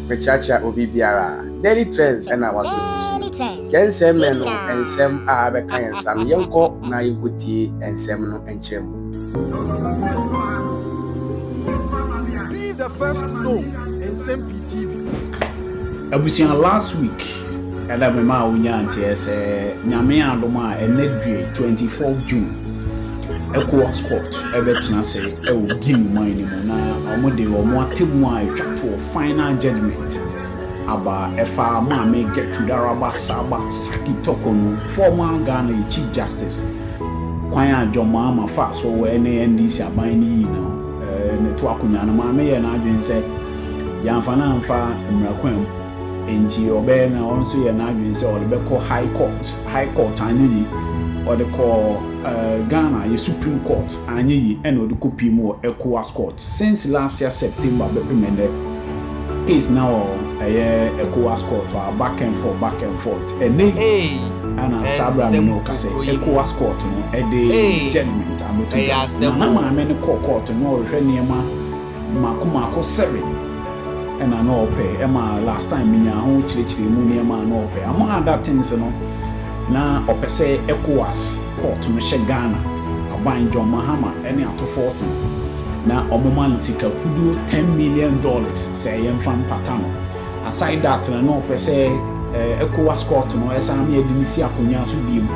Mekyerɛkyerɛ obi biara a. Daily Trends ɛna waso bi so. Yɛn nsɛm mɛ no nsɛm a abɛka yɛn nsa no yɛnkɔ na yɛnkɔ tie nsɛm no nkyerɛ mu. Be the first to know nsɛm pii TV. Abusua last week Ɛna me maa wo nyaa nteɛ sɛ nyame adom a ɛnɛ due 24 June ECOWAS court ɛbɛtena se ɛwɔ Guinea man no mu na wɔn de wɔn atemu a ɛtwa toɔ final judgement aba ɛfa maame Gertrude Araba Saba Saki Toko no former Ghana Chief Justice kwan a John Mahama fa so ɛne NDC aban no yi no ne to akonwa no maame yɛ n'adwene sɛ yɛamfa no amfa mmara kwan mu. Enti ɔbɛyɛ na ɔno nso yɛɛ n'adwene sɛ ɔde bɛkɔ High Court. High Court anyɛ yie. Ɔde kɔɔ Ghana, yɛ Supreme Court anyɛ yie ɛna ɔde kɔ pie mu wɔ Ecowas Court. Since last year September bɛpem ɛnnɛ, case no wɔ ɛyɛ Ecowas Court hɔ a back and forth, back and forth. Ɛnnɛ yi Eii ɛna saa berɛ a me ɛnsɛm ne wo kasa yi, nkokoyi mu Ecowas Court no ɛde Eii judgement abɛto ɛyɛ dwa. Na asɛm na oo. maame no kɔɔ court no na ɔrehwɛ nneɛma mako mako sɛbe na na ɔpɛ ɛma last time menyaa ho kyerɛkyerɛ mu nneɛma a na ɔpɛ among other things no na ɔpɛ sɛ ECOWAS court no hyɛ Ghana aban John Mahama ne atofɔɔse no na ɔmo ma no sika kuduo ten million dollars sɛ ɛyɛ mfa mpata no aside that no na ɔpɛ sɛ eh, ECOWAS court no ɛsan ma yɛde no si akonnwa so biem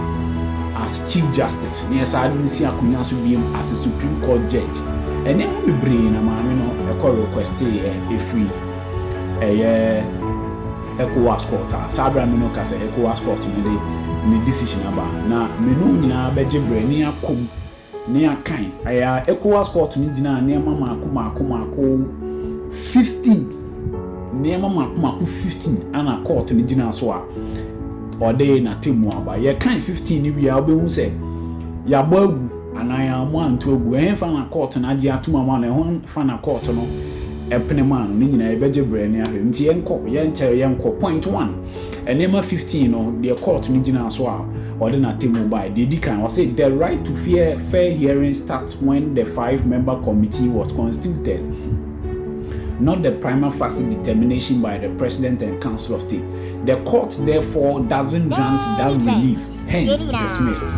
as chief justice na yɛsan de no si akonnwa so biem as a supreme court judge. Nneɛma bebree na maame no kɔ requestee ɛ ɛfiri ɛyɛ ECOWAS court a saa berɛ a me no ka sɛ ECOWAS court no de ne decision aba na me no nyinaa bɛgye berɛ ne akom ne akan ɛyɛ a ECOWAS court no gyinaa nneɛma maako maako maako 15 nneɛma maako maako 15 ana court no gyinaa so a ɔde n'atemmu aba yɛkan 15 no wie a wobɛhu sɛ yɛabɔ agu Anaa yɛammɔ anto agu. Ɛhefa na kɔɔto no agye atom ama no? Ɛhefa na kɔɔto no pene maa no? Ne nyinaa, yɛbɛgye bere ne ahwɛ. Enti yɛnkɔ, yɛnkyɛre, yɛnkɔ. Point one, Nneɛma fifteen no, deɛ kɔɔto no gyinaa so a ɔde n'atemmu bae. Deɛ edi kan, ɔse, The right to fair, fair hearing starts when the five-member committee was constituted, not the prima facie determination by the President and Council of State. The Court, therefore, doesn't grant that relief. Hence dismissed.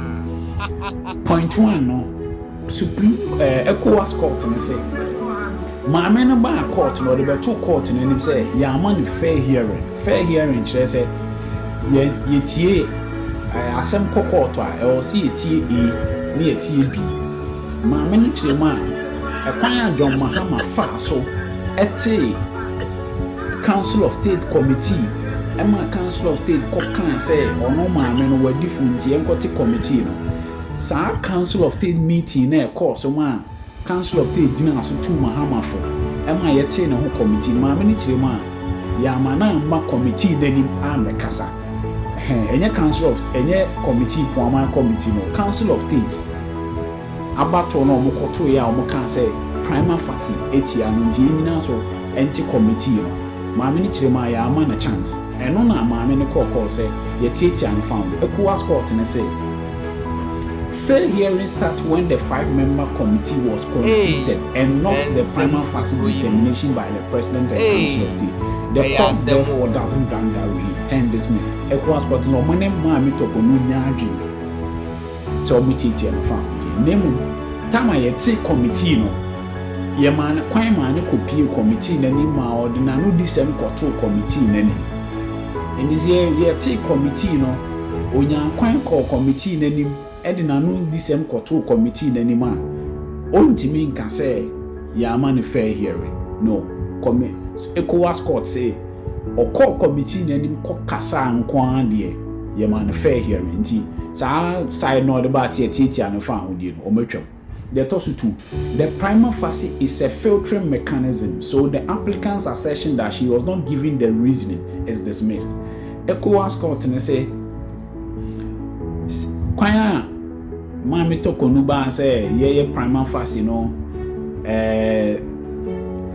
Point one no, Supreme eh, ECOWAS court no se, maame no baa court no, ɔde bɛtoo court no anim sɛ yɛama no fair hearing. Fair hearing kyerɛ sɛ yɛ yɛtie eh, asɛm kɔ court a, ɛwɔ sɛ yɛtie A ne yɛtie B. Maame no kyerɛ mu a, ɛkwan a John Mahama faa so tee Council of State Committee ɛma Council of State kɔ kaa sɛ ɔno maame no wadi funu nti yɛnkɔte committee no. Saa Council of State meeting no a ɛkɔɔ so maa Council of State gyinaa so tuu Mahama fo ɛma yɛtee ne ho committee. Maame no kyerɛ mu a, yɛamma no amma committee no anim ammɛkasa. Ɛhɛn, ɛnyɛ Council of, ɛnyɛ committee, Poaman Committee no, Council of State. Abatoɔ no a wɔkɔtoeɛ a wɔkaa sɛ prima facie tia no nti yɛn nyinaa so nte committee no, maame no kyerɛ mu a yɛamma no chance. Ɛno na maame no kɔɔ kɔɔ sɛ yɛtiatia no found. Ecowas court no se fair hearing start when the five member committee was constituted and not the prima facie determination by the president and council of state. The court therefore doesn't grant that relief and dismiss. Ecowas court no se wɔne maame Toko no nnya adwene. sɛ wɔbɛtiatia no faako deɛ, na mmom tam a yɛte kɔmitii no, yɛmaa no kwan maa no kɔpuee kɔmitii no anim maa ɔde n'anodisɛm kɔtoo kɔmitii no anim. Enti sɛ yɛte kɔmitii no, ɔnyaa kwan kɔɔ kɔmitii no anim de n'anodisɛm kɔtoo kɔmitii no anim a, ɔntumi nka sɛ yɛamma no fair hearing. No. Kɔmi, ECOWAS Court se, ɔkɔɔ committee no anim kɔkasaa nko ara deɛ, yɛmaa no fair hearing. Nti saa side no a ɔde baa sɛ yɛtiatia no fa ahodie no, wɔatwam. Deɛ ɛtɔ so tu, the prima facie is a filtering mechanism, so the applicant's assertion that she was not given the reasoning is dismissed. Ecowas Court no se, Kwan a Maame Toko no baa sɛ yɛyɛ Prima Facie no, ɛɛ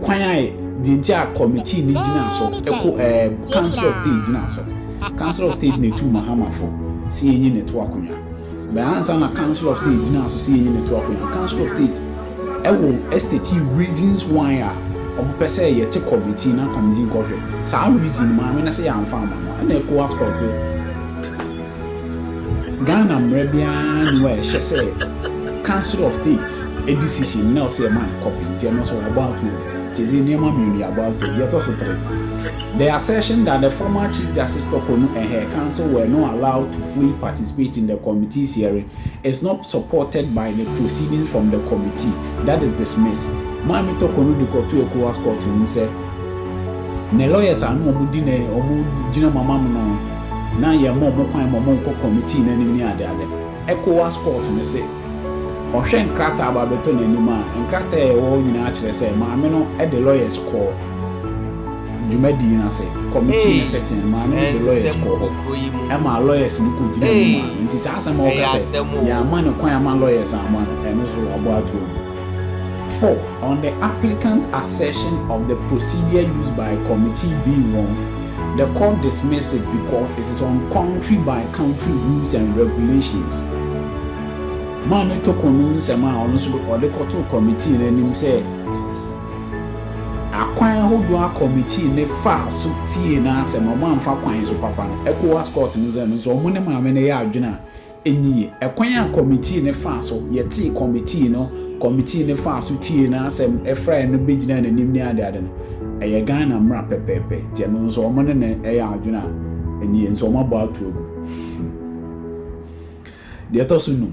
kwan a deɛ nti a kɔmitii no gyina so, ɛko ɛɛ Council of State gyina so. Council of State na etu Mahamafo si enyi ne to akonnwa. Bɛn ansa na Council of State gyina so si enyi ne to akonnwa. Council of State Ɛwɔ estate reasons why a ɔmo pɛ sɛ yɛ te committee na committee nkɔ hwɛ saa reason no maame no sɛ yɛn anfa amma no ɛna Ecowas kɔ se Ghana mmara biara nni hɔ a ɛhyɛ sɛ council of state decision na ɔsɛ yɛ ma no copy nti ɛno nso about to te se nneɛma mmienu yɛ about to deɛ ɛtɔ so tere the assertion that the former chief justice tɔkɔ no ɛhɛ council were not allowed to fully participate in the committee's hearing It's not supported by the proceedings from the committee that is dismissed. Maame Toko no de kɔto Ecowas court no mu sɛ ne lawyers a na wɔn di ne wɔn gyina mu ama mo no na yɛn ma wɔn kwan ma wɔn nkɔ committee no anim ne ade ade. Ecowas court no se ɔhwɛ nkrataa a aba abɛtɔ n'anim a nkrataa a ɛwɔ hɔ nyinaa kyerɛ sɛ maame no de lawyers kɔɔ. dwumadie no ase, kɔmitee no sɛ ten maame no de lɔyɛs kɔɔ hɔ, ɛmaa lɔyɛs no kɔgyinaa mu maa no. Nti saa asɛm a woka sɛ yɛamma no kwan amma lɔyɛs amma no, ɛno nso wɔabɔ ato mu. Four, on the applicant's assertion of the procedure used by committee being wrong, the court dismissed it because it is on country by country rules and regulations. Maame Toko no nsɛm a ɔno nso ɔde kɔtoo kɔmitee no anim sɛ, Akwan hodoɔ a kɔmitii no faa so tiee n'asɛm a wɔamfa kwan so papa no, Ecowas Court no sɛ no nso wɔn ne maame no yɛ adwene a ɛnni yie. Ɛkwan a kɔmitii no faa so yɛtee kɔmitii no, kɔmitii no faa so tiee n'asɛm, frɛɛ no bɛgyinaa n'anim ne adeade no, ɛyɛ Ghana mmara pɛpɛɛpɛ, nti ɛno nso wɔn ne no yɛ adwene a ɛnni yie, nso wɔabɔ ato agu. Deɛ ɛtɔ so nnum.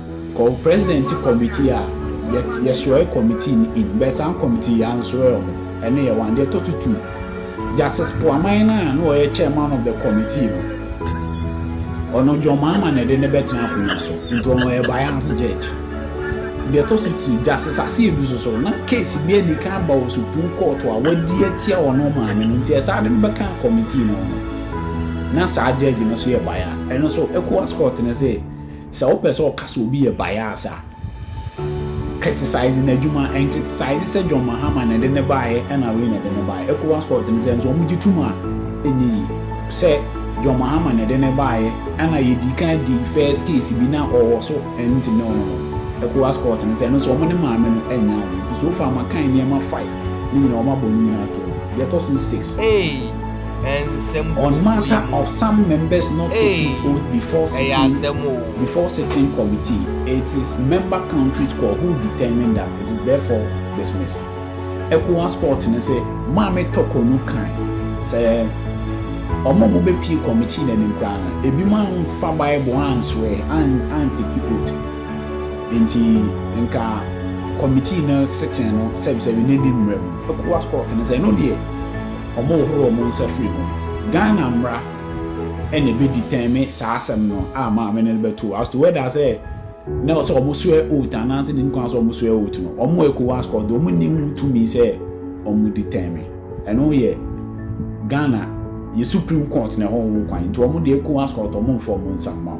Kɔ wo president committee a yɛ yɛ srɔɛ committee no in bɛ saa committee yɛ ansrɔɛ ɔmo ɛno yɛ one deɛ ɛtɔ so two justice poaman no a na ɔyɛ chairman of the committee no ɔno john mahama na ɛde no bɛ tena akonwa so nti ɔno ɔyɛ bias judge deɛ ɛtɔ so three justice aseɛ bi so so na case bi adi kan aba wɔ supreme court a wadi atia ɔno maame no nti ɛsaa de no bɛ kan committee no ɔno na saa judge no so yɛ bias ɛno so ecowas court no sɛ Sɛ wopɛ sɛ ɔka sɛ obi yɛ bias a, criticize n'adwuma. Ɛncriticize sɛ John Mahama na ɛde no baeɛ ɛna wei na ɛde no baeɛ. Ecowas court no sɛ nso wɔn gye tom a, ɛnyɛ yie sɛ John Mahama na ɛde no baeɛ ɛna yɛdii kan di first case bi na ɔwɔ so ɛnti ne ɔno no Ecowas court no sɛ ɛno nso wɔn ne maame no ɛnyɛ awo. Nti so far makan nneɛma five ne nyinaa wɔn abɔ ne nyinaa atom. Deɛ ɛtɔ so six. Eii! On matter of some members not taking oath before sitting before sitting committee, it is member country's call who determine that it is therefore dismissed. Ecowas court no se Maame Toko no kae sɛ wɔn a wɔbɛpue committee no anim koraa no, ebinom amfa Bible ansoɛ, an, anteki oath. Enti nka committee no sitting no sɛbisɛbi no nni mmara mu. Ecowas court no sɛ ɛno deɛ, Wɔhohoro wɔn nsa firi ho. Ghana mmra na ɛbɛdi tɛn me saa asɛm no a maame no bɛto as to whether sɛ na sɛ wɔn swear oath anaa sɛ nim kwan sɛ wɔn swear oath no wɔn wɔ Ecowas court deɛ wɔn nni ho tumi sɛ wɔn di tɛn me ɛno yɛ Ghana yɛ supreme court na ɛhɔ ho kwan nti wɔn deɛ Ecowas court wɔn mfa wɔn nsa mma ho.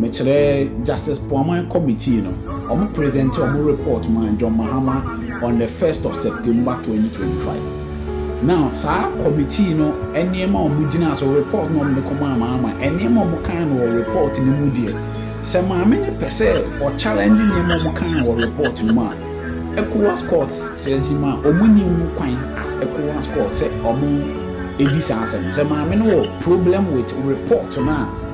Mekyerɛ Justice Poaman Committee no, wɔn presente wɔn report maa John Mahama on the first of September twenty twenty five. Now saa committee no nneɛma a wɔn gyinaa so, report na wɔn de kɔmaa Mahama, nneɛma a wɔn kan no wɔ report no mu deɛ, sɛ maame no pɛ sɛ ɔ challenge nneɛma a wɔn kan wɔ report no mu a, ECOWAS court says ma wɔn nni ho kwan as ECOWAS court sɛ wɔn di saa asɛm no. Sɛ maame no wɔ problem with report no a,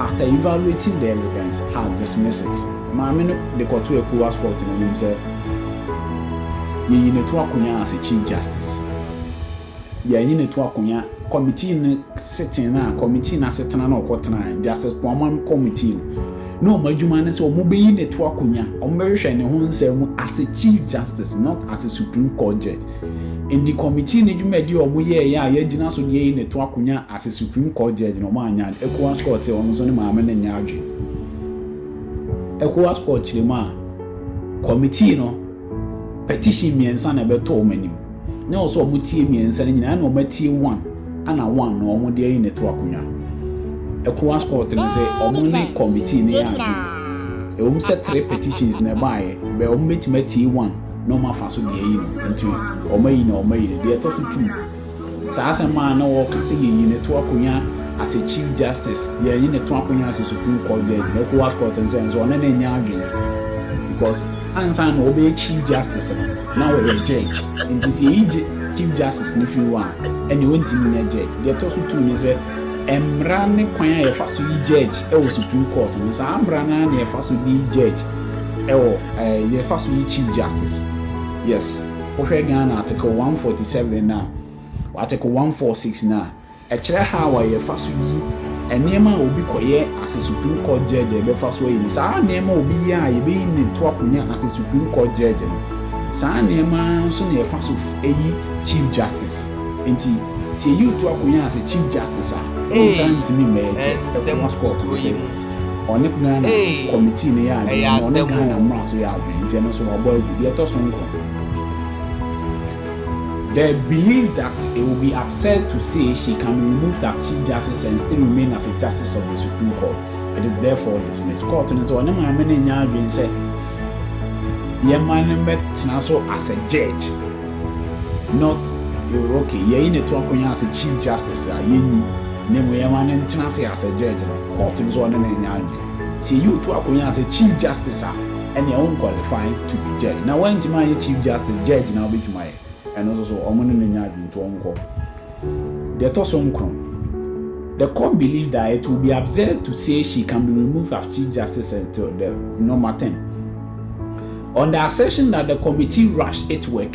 After evaluating the evidence, has dismissed it. Maame no de kɔto Ecowas Court no anim sɛ, Yɛyi no to akonya as a Chief Justice. Yɛanyi no to akonya Committee no sitting no a, Committee no asetena no a ɔkɔtenae, Justice Poumam Committee no, na wɔn adwuma ne sɛ wɔbɛyi no to akonya, wɔbɛhwehwɛ ne ho nsɛm mu as a Chief Justice, not as a Supreme Court Judge. Enti kɔmitii no dwumadi a ɔmo yɛɛeɛ a yɛagyina so deɛ yei na ɛto akonya as a supreme court judge no ɔmo annya no, Ecowas court sɛ ɔno nso ne maame no nyɛ adwen. Ecowas court kyerɛ mu a, kɔmitii no petition mmiɛnsa na ɛbɛtɔ ɔmo anim, na ɛwɔ sɛ ɔmo tie mmiɛnsa no nyinaa ɛna ɔmo atie one ana one no ɔmo deɛ yi na ɛto akonya. Ecowas court no sɛ ɔmo ne kɔmitii no yɛ adwen. Ɛwom sɛ three petitions na ɛbaaeɛ, but ɔmo bɛtumi atie one. na wɔn afa so de ayi no nti wɔn ayi na wɔn ayi no deɛ ɛtɔ so tu saa asɛm a na wɔka sɛ yɛyi ne to akonya as a chief justice yɛyi ne to akonya as a supreme court judge na ecowas court nso nso ɔne ne nya adwene because ansa na wɔbɛyɛ chief justice no na wɔyɛ judge nti sɛ yɛyi chief justice no firi hɔ a ɛne wɔntumi nya judge deɛ ɛtɔ so tu ne sɛ mmara ne kwan a yɛfa so yi judge ɛwɔ supreme court no saa mmara no a na yɛfa so de yi judge ɛwɔ ɛɛ yɛ fa so yi chief justice yes wo hwɛ Ghana article one forty seven na article one four six na ɛkyerɛ how a yɛ fa so yi ɛneɛma a obi kɔ yɛ ase supreme court judge a yɛbɛ fa so ayi no saa neɛma obi yɛ a yɛbɛ yi ne to akonya ase supreme court judge no saa neɛma nso na yɛ fa so ayi chief justice nti sɛ yɛ yi to akonya ase chief justice a ɛwɔ saa ntumi mɛ yɛ kyɛ ɛkɔ mas court no sɛ. Ɔne Ghana Hey! committee no yɛ adwene Ɛyɛ na ɔne asɛm Ghana o. mmra so yɛ adwene nti ɛno nso wabɔ agu. Deɛ ɛtɔ so nkron. They believe that it will be absurd to say she can be removed as Chief Justice and still remain as a Justice of the Supreme Court. It is therefore dismissed. Court no sɛ ɔne maame no nyɛ adwene sɛ yɛma no mmɛtena so as a judge not okay yɛyi ne to akonnwa as a Chief Justice a yɛnyi. Ne mu yɛma no ntena ase as a judge no court no sɛ ɔne no nyɛ adwene sɛ yɛyi wo to akonya as a chief justice a ɛneɛ wo nqualify to be judge na woantumi anyɛ chief justice judge na wobɛtumi ayɛ ɛno nso so ɔmo ne no nyɛ adwene nti ɔnkɔ Deɛ ɛtɔ so nkron the court believe that it will be absurd to say she can be removed as chief justice until the normal term on the assertion that the committee rushed its work.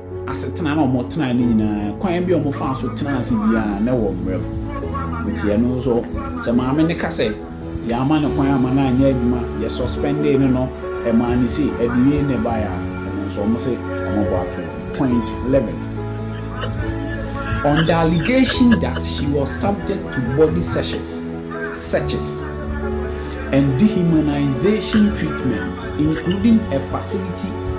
asetena no a wɔtenae no nyinaa, kwan bi a wɔfaa so tenaa ase biara, na ɛwɔ mmara mu. Enti ɛno nso, sɛ maame no ka sɛ, Yɛamma no kwan amma no anyɛ adwuma, yɛsɔspɛndee no no, ɛmaa no sei, ɛde wei na ɛbaeɛ a, ɛno nso, wɔse wɔabɔ ato no. Point eleven, On the allegation that she was subject to body searches, searches, and dehumanization treatments, including a facility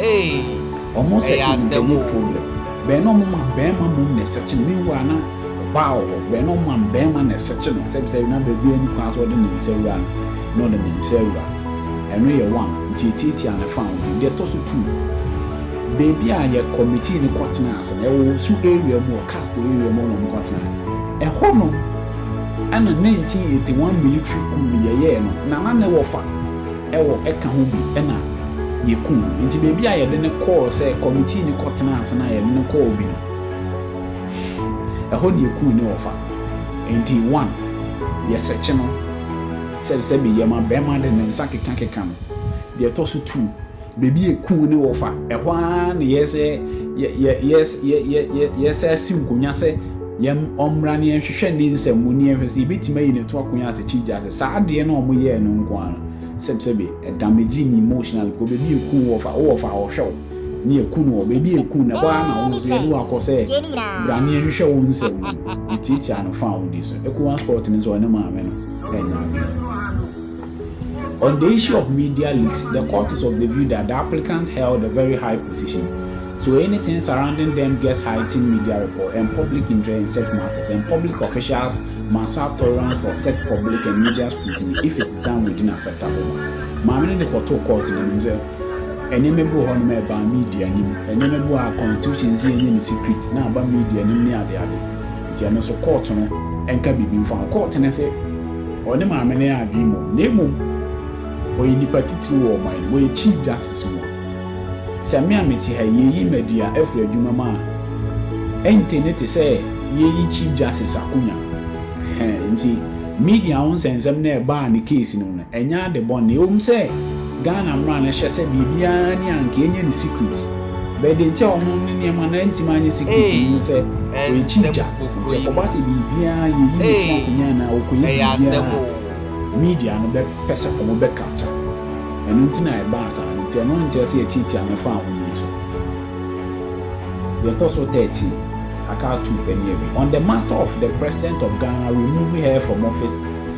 Eii Ɔmo ɛyɛ sɛkye no asɛm bɛyɛ oo. problem. Bɛn na ɔmo ma bɛɛma mmom na ɛsɛkye no, meanwhile na ɔbaa wɔ hɔ, bɛn na ɔmo ma bɛɛma na ɛsɛkye no, sɛ bisɛ na baabi a ɛni kwan sɛ ɔde ne nsa wura no na ɔde ne nsa awura, ɛno yɛ one, nti ɛtiatia ne fã ho bio. Deɛ ɛtɔ so two, baabi a yɛ committee no kɔ tenaa ase no, ɛwɔ Osu area mu, wɔ Cast area mu hɔ na ɔmo kɔ tenae, ɛhɔ no ɛna nineteen eighty one military coup no yɛyɛɛ no, Nana ne wɔ fã. wɔ ka ho bi na yɛku no. Nti baabi a yɛde no kɔɔ sɛ kɔmitii no kɔtenaa ase no a yɛde no kɔɔ bi no, ɛhɔ na yɛkuu ne wɔfa. Nti one, yɛsɛkye no sɛ sɛbe yɛma bɛrima de ne nsa kekakeka no. Deɛ ɛtɔ so two, baabi a yɛkuu ne wɔfa, ɛhɔ ara na yɛsɛ yɛsɛ yɛsɛ yɛsɛ asi nkonnwa sɛ. Yɛm ɔmmra na yɛnhwehwɛ ne nsɛm mu na yɛnhwɛ sɛ yɛbɛtumi ayi no to akwan ase kyi gya sɛ saa adeɛ no a ɔmo yɛɛ no nko ara no sɛb sɛbe ɛdamegyi ne emotionally kɔ baabi a ɛku wo ɔfa wo ɔfa a ɔhwɛ wo ne ɛku no wɔ baabi a ɛku no ɛhɔ ara na wo nso yɛde wo akɔ sɛ bra na yɛnhwehwɛ wo nsɛm mu no yɛtiatia no fã a wodi so ɛku one spot no nso ɔne maame no ɛnyɛ adwene. On the issue of media leaks, the court is of the view that the applicant held a very high position, so anything surrounding them gets heightened media report and public interest in such matters and public officials must have tolerance for such public and media scrutiny if it is done within acceptable manner. Maame no de kɔtoo court no anim sɛ nneɛma bi wɔ hɔ nom a ɛbaa media anim, nneɛma bi wɔ hɔ a constitution se yɛnyɛ no secret na aba media anim ne adeade. Nti ɛno nso kɔɔto no nka biribi mfa ho. Kɔɔto no se ɔne maame no adwene mmom na mmom ɔyɛ nipa titiriw wɔ ɔman no mu, ɔyɛ Chief Justice mu a. Sɛ me a mete ha yi, yɛyi Maduya afiri adwuma mu a, ɛnte ne te sɛ yɛreyi Chief Justice akonya. Nti media ho nsɛnsɛm no a ɛbaa ne case no mu no, ɛnyɛ ade bɔne. Ɛwom sɛ. Ghana mmra no hyɛ sɛ deɛ biara ni a nka ɛnyɛ ne secret but deɛ nti a wɔn ne nneɛma no antumi anyɛ secret no ne sɛ wɔrekyi justice nti ɛkɔba sɛ biribiara yɛyi ne to akonnwa anaa ɔkɔyɛ biribiara a media no bɛpɛ sɛ wɔn bɛ capture ɛno nti na ɛbaa saa no nti ɛno nkyerɛ sɛ yɛtiatia no faa wɔn ani so deɛ ɛtɔ so 13 aka ato pɛ ne awi on the matter of the president of Ghana removing her from office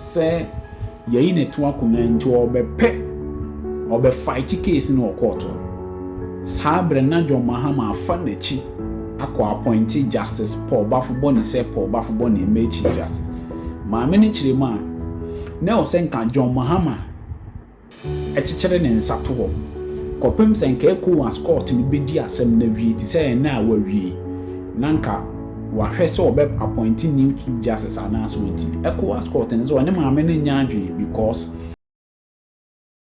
sɛ yɛyi ne to akonya nti ɔbɛpɛ ɔbɛ fight case no wɔ court hɔ saa berɛ na John Mahama afa n'akyi akɔ appoint Justice Paul Bafobɔne sɛ Paul Bafobɔne mmɛ Chief Justice maame no kyerɛ mu a na ɛwɔ sɛ nka John Mahama Ɛkyekyere ne nsa to hɔ kɔpem sɛ nka Ecowas Court no bedi asɛm no awie te sɛ ɛnnɛ a wɔawie yi na anka wɔahwɛ sɛ wɔbɛ appointe new chief justice anaasɛ wɔntumi. Ecowas Court no nso wɔne maame no nnya adwene because.